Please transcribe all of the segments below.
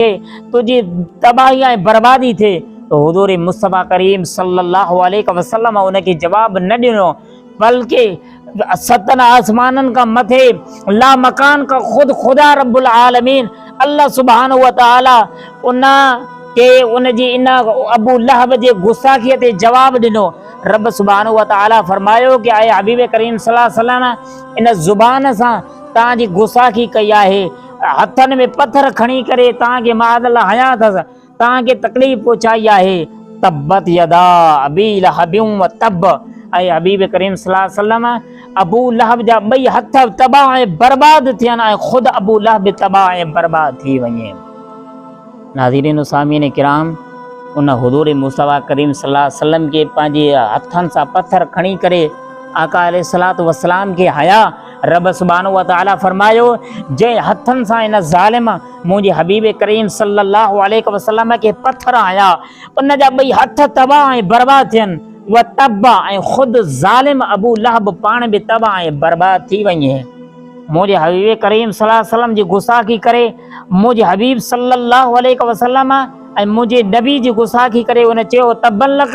ٿئي، تنهنجي تباهي ۽ بربادي ٿئي ته حضور مصطفيٰ ڪريم صلّي اللّٰه عليه وسلّم ان کي جواب نه ڏنو بلڪه ستن آسمانن کان مٿي لامڪان کان خود خدا ربّ العالمين الله سبحانه وتعالٰي ان کي ان جي ان ابو لهب جي گستاخيء تي جواب ڏنو، ربّ سبحانه وتعالٰي فرمايو ته اي حبيب ڪريم صلّي اللّٰه عليه وسلّم ان زبان سان توهان جي گستاخي ڪئي آهي. هٿن ۾ پٿر کڻي ڪري توهان کي معاذ الله هنيا اٿس توهان کي تڪليف پهچائي آهي تبت يدا ابي لهب و تب اي حبيب ڪريم صلي الله عليه وسلم ابو لهب جا ٻئي هٿ تباهه ۽ برباد ٿين ۽ خود ابو لهب تباهه ۽ برباد ٿي وڃي ناظرين و سامعين کرام ان حضور مصطفي ڪريم صلي الله عليه وسلم کي پنهنجي هٿن سان پٿر کڻي ڪري آقا عليه الصلوۃ والسلام کي هيا رب سبحانه وتعالي فرمايو، جنهن هٿن سان ان ظالم منهنجي حبيب ڪريم صلّي الله عليه وسلّم کي پٿر هنيا، ان جا ٻئي هٿ تباهه ۽ برباد ٿين وتب ۽ خود ظالم ابو لهب پاڻ به تباهه ۽ برباد ٿي وڃي. منهنجي حبيب ڪريم صلّي الله عليه وسلّم جي گستاخي ڪري منهنجي حبيب صلّي الله عليه وسلّم ۽ منهنجي نبي جي گستاخي ڪري هن چيو تبّا لڪ،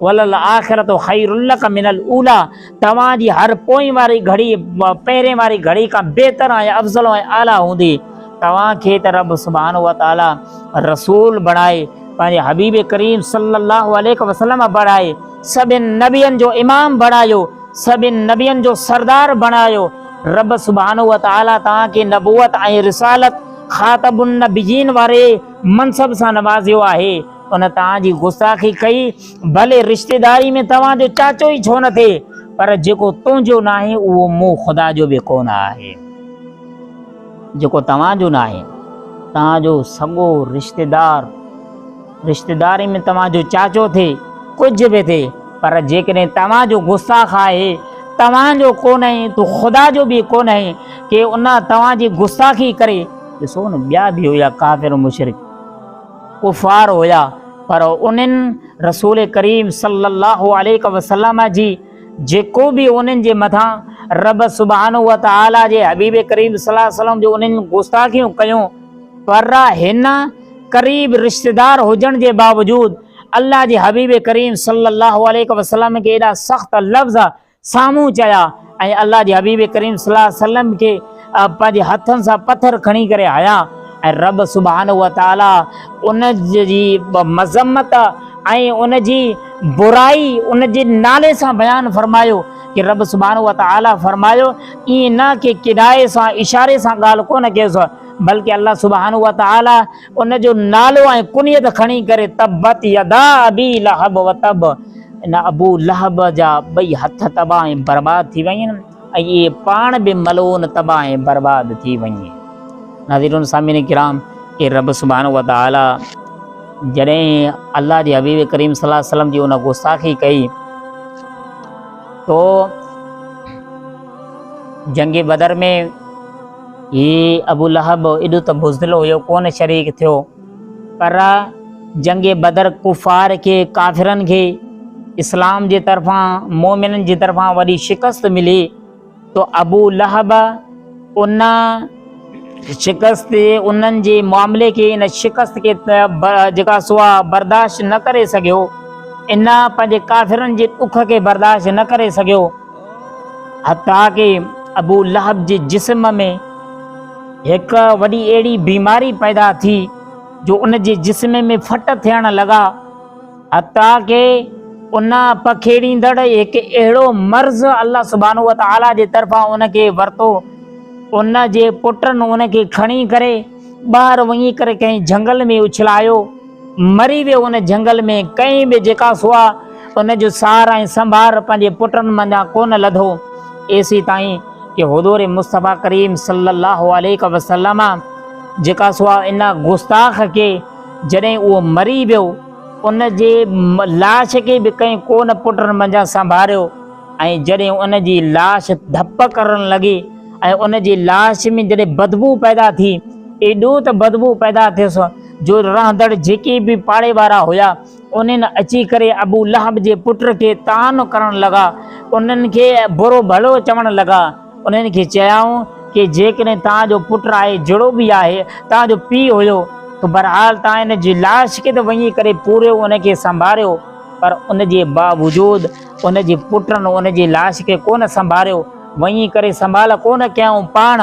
وللاخرة خير لک من الاوليٰ توهان جي هر پوئين واري گهڙي پهرين واري گهڙي کان بهتر ۽ افضل ۽ اعليٰ هوندي. توهان کي ته رب سبحانه وتعاليٰ رسول بڻائي پنهنجي حبيب ڪريم صلّي اللّٰه عليه وسلّم بڻائي سڀين نبين جو امام بڻايو، سڀين نبين جو سردار بڻايو، رب سبحانه وتعاليٰ توهان کي نبوت ۽ رسالت، خاتم النبيين واري منصب سان نوازيو آهي. ان توهان جي گستاخي ڪئي، ڀلي رشتيداري ۾ توهان جو چاچو ئي ڇو نه ٿئي، پر جيڪو تنهنجو ناهي اهو مون خدا جو به ڪو نه آهي. جيڪو توهان جو ناهي، توهان جو سڳو رشتيدار، رشتيداري ۾ توهان جو چاچو ٿئي، ڪجهه به ٿئي، پر جيڪڏهن توهان جو گستاخ آهي، توهان جو ڪو نه ۽ تون خدا جو به ڪو نه آهين، ڪي ان توهان جي گستاخي ڪري، ڏسو نه ٻيا به هيا ڪافر مشرڪ. ڪفار هيا پر انهن رسول ڪريم صلي الله عليه وسلم جي جيڪو به انهن جي مٿان رب سبحانه وتعالي جي حبيب ڪريم صلي الله عليه وسلم جو انهن گستاخيون ڪيون پر هن قريب رشتيدار هجڻ جي باوجود الله جي حبيب ڪريم صلي الله عليه وسلم کي ايڏا سخت لفظ سامهون چيا ۽ الله جي حبيب ڪريم صلي الله عليه وسلم کي پنهنجي هٿن سان پٿر کڻي ڪري هنيا ۽ رب سبحانه وتعالي ان جي مذمت ۽ ان جي برائي ان جي نالي سان بيان فرمايو ڪي رب سبحانه وتعالي فرمايو ائين نه ڪي ڪنايي سان اشاري سان ڳالهه ڪونه ڪيس بلڪه الله سبحانه وتعالي ان جو نالو ۽ ڪنيت کڻي ڪري تبت يدا ابي لهب وتب، ان ابو لهب جا ٻئي هٿ تباهه ۽ برباد ٿي ويئن ۽ اهي پاڻ به ملعون تباهه ۽ برباد ٿي ويئي. ناظرين سامعين ڪرام اي رب سبحانه وتعالي جڏهن الله جي حبيب ڪريم صلي الله عليه وسلم جي ان گستاخي ڪئي تو جنگ بدر ۾ هي ابو لهب ايڏو ته بزدل هيو ڪونه شريڪ ٿيو پر جنگ بدر ڪفار کي ڪافرن کي اسلام جي طرفان مومنن جي طرفان وڏي شڪست ملي تو ابو لهب ان شڪست انهن جي معاملي کي ان شڪست کي جيڪا سوا برداشت نه ڪري سگهيو ان پنهنجي ڪافرن جي ڏک کي برداشت نه ڪري سگهيو حتيٰ ڪي ابو لهب جي جسم ۾ هڪ وڏي اهڙي بيماري پيدا ٿي جو ان جي جسم ۾ ڦٽ ٿيڻ لڳا حتيٰ ڪي ان پکيڙيندڙ هڪ اهڙو مرض الله سبحانه وتعاليٰ جي طرفان ان کي ورتو ان جي پٽن ان کي کڻي ڪري ٻاهر وڃي ڪري ڪنهن جهنگل ۾ اڇلايو مري ويو ان جهنگل ۾ ڪنهن به جيڪا سوا ان جو سار ۽ سنڀار پنهنجي پٽن منجهان ڪونه لڌو ايسي تائين ڪي حضور مصطفي ڪريم صلي الله عليڪ وسلم جيڪا سوا ان گستاخ ڪي جڏهن اهو مري ويو ان جي لاش کي به ڪنهن ڪونه پٽن منجهان سنڀاريو ۽ جڏهن ان جي لاش ڌپ ڪرڻ لڳي ۽ ان جي لاش ۾ جڏهن بدبو پيدا ٿي ايڏو ته بدبو پيدا ٿيس جو رهندڙ جيڪي به پاڙي وارا هيا، انهن اچي ڪري ابو لهب جي پٽ کي طعن ڪرڻ لڳا، انهن کي برو ڀلو چوڻ لڳا، انهن کي چيائون ڪي جيڪڏهن توهان جو پٽ آهي جهڙو به آهي توهان جو پيء هيو ته بهرحال توهان ان جي لاش کي ته وڃي ڪري پورهيو ان کي سنڀاريو پر ان جي باوجود ان جي پٽن ان جي لاش کي ڪونه سنڀاريو وڃي ڪري سنڀال ڪونه ڪيائون پاڻ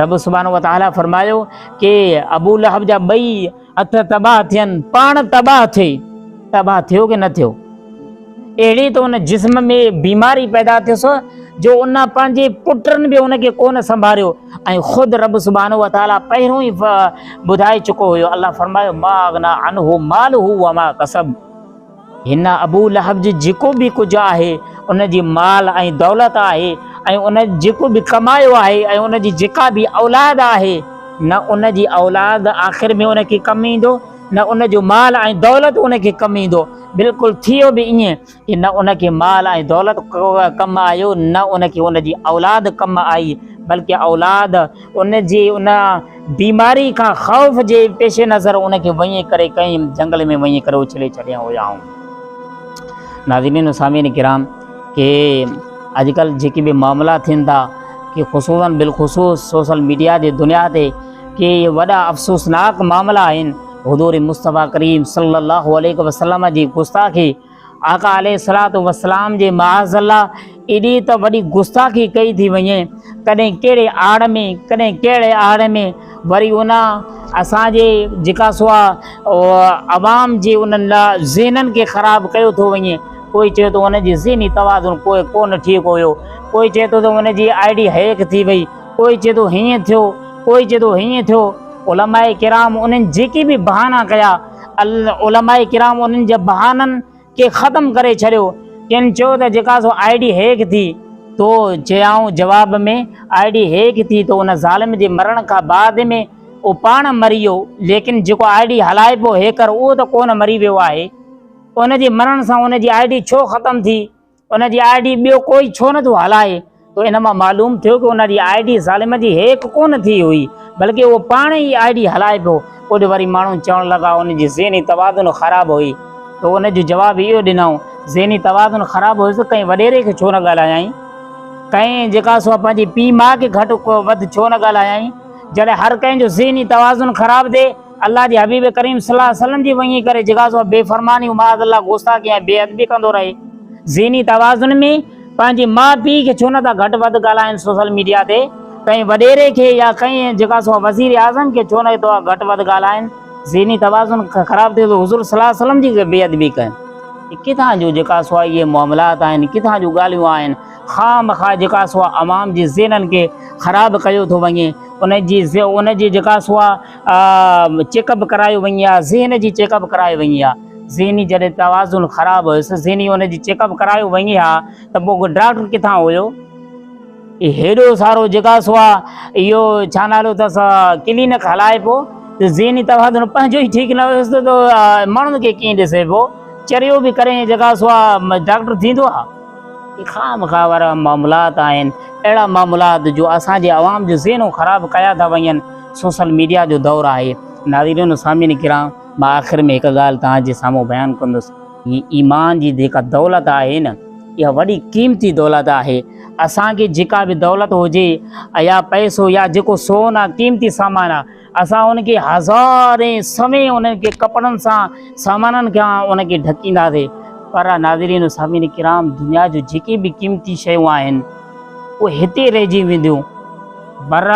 رب سبحانه وتعالي فرمايو ڪي ابو لهب جا ٻئي هٿ تباهه ٿين پاڻ تباهه ٿئي تباهه ٿيو ڪي نه ٿيو اهڙي ته ان جسم ۾ بيماري پيدا ٿيس جو ان پنهنجي پٽن به ان کي ڪونه سنڀاريو ۽ خود رب سبحان و تعالی پهرون ئي ٻڌائي چڪو هيو الله فرمايو ما اغنا عنه مال هو وما کسب هن ابو لهب جي جيڪو به ڪجهه آهي ان جي مال ۽ دولت آهي ۽ ان جيڪو به ڪمايو آهي ۽ ان جي جيڪا به اولاد آهي نه ان جي اولاد آخر ۾ ان کي ڪم ايندو نه ان جو مال ۽ دولت ان کي ڪم ايندو بلڪل ٿيو به ائين ته نه ان کي مال ۽ دولت ڪم آيو نه ان کي ان جي اولاد ڪم آئي بلڪه اولاد ان جي ان بيماري کان خوف جي پيش نظر ان کي وڃي ڪري ڪنهن جنگل ۾ وڃي ڪري اڇلي ڇڏيا هيائون. ناظرين و سامعين ڪرام ڪي اڄ ڪلهه جيڪي به معاملا ٿين ٿا ڪي خصوصا بالخصوص سوشل ميڊيا جي دنيا تي ڪي وڏا افسوسناڪ معاملا آهن حضور مصطفيٰ ڪريم صلي الله عليه وسلم جي گستاخي آقا عليه الصلوة والسلام جي معاذ الله ايڏي ته وڏي گستاخي ڪئي ٿي وڃي ڪڏهن ڪهڙي آڙ ۾ ڪڏهن ڪهڙي آڙ ۾ وري ان اسان جي جيڪا سو عوام جي انهن ذهنن کي خراب ڪيو ٿو وڃي ڪوئي چئي ٿو ان جي ذهني توازن ڪوئي ڪونه ٺيڪ هيو ڪوئي چئي ٿو ته ان جي آئي ڊي هيڪ ٿي وئي ڪوئي چئي ٿو هيئن ٿيو ڪوئي چئي ٿو هيئن ٿيو علماء ڪرام انهن جيڪي به بهانا ڪيا علماء ڪرام انهن جي بهانن کي ختم ڪري ڇڏيو. ڪن چيو ته جيڪا سو آء ڊي هيڪ ٿي تو چيائون جواب ۾ آء ڊي هيڪ ٿي تو ان ظالم جي مرڻ کان بعد ۾ اهو پاڻ مري ويو ليڪن جيڪو آء ڊي هلائي پيو هيڪر اهو ته ڪونه مري ويو آهي ان جي مرڻ سان ان جي آء ڊي ڇو ختم ٿي ان جي آئي ڊي ٻيو ڪوئي ڇو نٿو هلائي تو ان مان معلوم ٿيو ڪي ان جي آئي ڊي ظالم جي هيڪ ڪونه ٿي هئي بلڪه اهو پاڻ ئي آئي ڊي هلائي پيو ڪجهه وري ماڻهو چوڻ لڳا ان جي ذهني توازن خراب هئي تو ان جو جواب اهو ڏنائون ذهني توازن خراب هيس ڪنهن وڏيري کي ڇو نه ڳالهايائين ڪنهن جيڪا سو پنهنجي پي ماء کي گهٽ وڌ ڇو نه ڳالهايائين جڏهن هر ڪنهن جو ذهني توازن خراب ٿئي الله جي حبيب ڪريم صلي الله عليه وسلم جي وڃي ڪري جيڪا سو بي فرمانيون معاذ الله گستاخي ۽ بي ادبي ڪندو رهي ذهني توازن ۾ پنهنجي ماء پيء کي ڇو نٿا گهٽ وڌ ڳالهائين سوشل ميڊيا تي ڪنهن وڏيري کي يا ڪنهن جيڪا سو وزير اعظم کي ڇو نه توهان گهٽ وڌ ڳالهائين ذهني توازن خراب ٿئي ٿو حضور صلي الله عليه وسلم جي بي ادبي ڪن ڪٿان جو جيڪا سو اهي معاملات آهن ڪٿان جون ڳالهيون آهن خام خواهه جيڪا سو عوام جي ذهنن کي خراب ڪيو ٿو وڃي ان جي ان جي جيڪا سو چيڪ اپ ڪرايو وڃي ها ذهن جي چيڪ اپ ڪرايو وڃي ها ذهني جڏهن توازن خراب هيس ذهني ان جي چيڪ اپ ڪرايو وڃي ها ته پوء ڊاڪٽر ڪٿان هيو هيڏو سارو جيڪا سو آهي اهو ڇا نالو اٿس ڪلينڪ هلائي پيو ته ذهني توازن پنهنجو ئي ٺيڪ نه هيس ته ماڻهن کي ڪيئن ڏسي پيو چريو به ڪري جيڪا سو آهي ڊاڪٽر ٿيندو آهي هي خامخواه وارا معاملات آهن، اهڙا معاملات جو اسان جي عوام جو ذهنون خراب ڪيا ٿا وڃن، سوشل ميڊيا جو دور آهي. ناظرين و سامعين ڪرام مان آخر ۾ هڪ ڳالهه توهان جي سامهون بيان ڪندس. هي ايمان جي جيڪا دولت آهي نه اها وڏي قيمتي دولت آهي، اسان کي جيڪا به دولت هجي يا پئسو يا جيڪو سون آهي قيمتي سامان آهي، اسان هن کي هزارين سوين هن کي ڪپڙن سان سامانن کان هن کي ڍڪينداسي پر ناظرين سامعين کرام دنيا جو جيڪي به قيمتي شيون آهن اهي هتي رهجي وينديون پر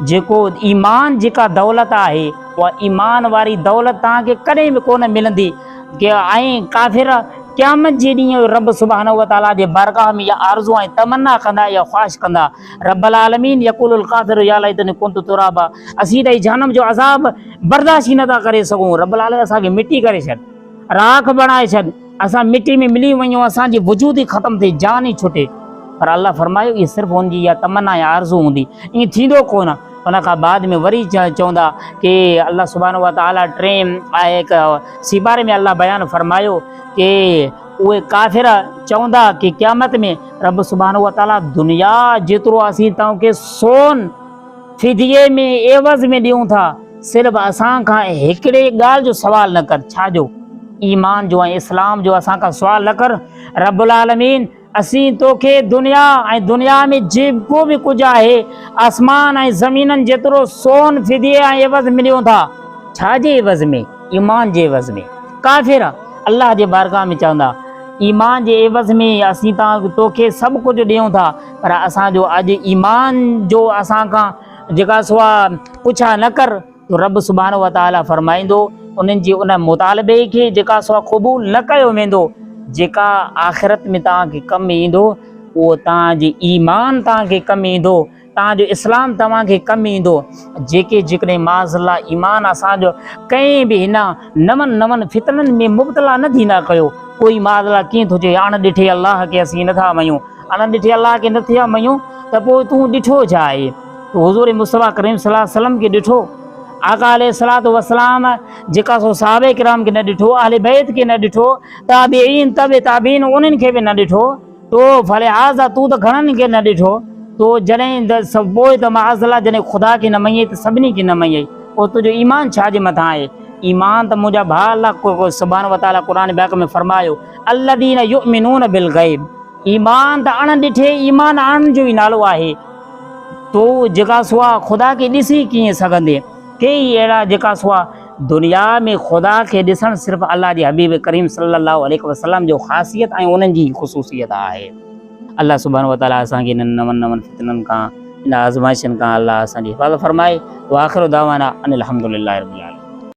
جيڪو ايمان جيڪا دولت آهي اها ايمان واري دولت تان کي ڪڏهن به ڪونه ملندي ڪي ۽ ڪافر قيامت جي ڏينهن رب سبحانه وتعالي جي بارگاهه ۾ يا آرزو ۽ تمنا ڪندا يا خواهش ڪندا رب العالمين يقول القادر يا ليتني كنت ترابا اسين ته هي جهنم جو عذاب برداشت ئي نٿا ڪري سگهون رب العالمين اسان کي مٽي ڪري ڇڏ راک بڻائي ڇڏ اسان مٽي ۾ ملي وڃون اسان جي وجود ئي ختم ٿئي جان ئي ڇٽي پر الله فرمايو هي صرف ان جي يا تمنا يا آرزو هوندي ائين ٿيندو ڪونه ان کان بعد ۾ وري چوندا کہ الله سبحانه وتعاليٰ ٽين آهي سيپاري ۾ الله بيان فرمايو کہ اهي ڪافر چوندا ڪي قيامت ۾ رب سبحانه وتعالي دنيا جيترو اسين توهان کي سون فديي ۾ عيوض ۾ ڏيون ٿا صرف اسان کان هڪڙي ڳالهه جو سوال نه ڪر ڇا جو ايمان جو ۽ اسلام جو اسان کان سوال نه ڪر رب العالمين اسين توکي دنيا ۽ دنيا ۾ جيڪو به ڪجهه آهي آسمان ۽ زمينن جيترو سون فديي ۽ عيوض ۾ ڏيون ٿا ڇا جي عيوض ۾ ايمان جي عيوض ۾، ڪافر، الله جي بارگاھ ۾ چوندا، ايمان جي عيوض ۾ اسين تو کي سڀ ڪجهه ڏيون ٿا، پر اسان جو اڄ ايمان جو اسان کان جيڪا سوا پڇا نه ڪر، تو رب سبحانه وتعالي فرمائيندو، انهن جي ان مطالبي کي جيڪا سوا قبول نه ڪيو ويندو، جيڪا آخرت ۾ توهان کي ڪم ايندو، اهو توهان جي ايمان توهان کي ڪم ايندو، تان جو اسلام توهان کي ڪم ايندو جيڪي جيڪڏهن معاذ الله ايمان اسان جو ڪنهن به هن نون نون فتنن ۾ مبتلا نه ٿيندا ڪيو ڪوئي معاذ الله ڪيئن ٿو چئي اڻ ڏٺي الله کي اسين نٿا مڃون اڻ ڏٺي الله کي نٿا مڃون ته پوء تون ڏٺو ڇا آهي تو حضور مصطفيٰ ڪريم صلي الله عليه وسلم کي ڏٺو آقا عليه الصلات والسلام جيڪا سو صحابه کرام کي نه ڏٺو اهل بيت کي نه ڏٺو تابعين تابع تابعين انهن کي به نه ڏٺو تو فلهٰذا تون ته گهڻن کي نه ڏٺو تو جڏهن ته پوء ته معاذالله جڏهن خدا کي نه مڃيئي ته سڀني کي نه مڃيئي پوء تنهنجو ايمان ڇا جي مٿان آهي ايمان ته منهنجا ڀاء الله سبحانه وتعالي قرآن پاڪ ۾ فرمايو الذين يؤمنون بالغيب ايمان ته اڻ ڏٺي ايمان آڻڻ جو ئي نالو آهي تو جيڪا سوا خدا کي ڏسي ڪيئن سگهندين ڪيئي اهڙا جيڪا سوا دنيا ۾ خدا کي ڏسڻ صرف الله جي حبيب ڪريم صلي الله عليه وسلم جو خاصيت ۽ انهن جي خصوصيت آهي الله سبحانه وتعالي اسان کي انهن نون نون فتنن کان ان آزمائشن کان الله اسان جي حفاظت فرمائي واخر دعوانا ان الحمد لله رب العالمين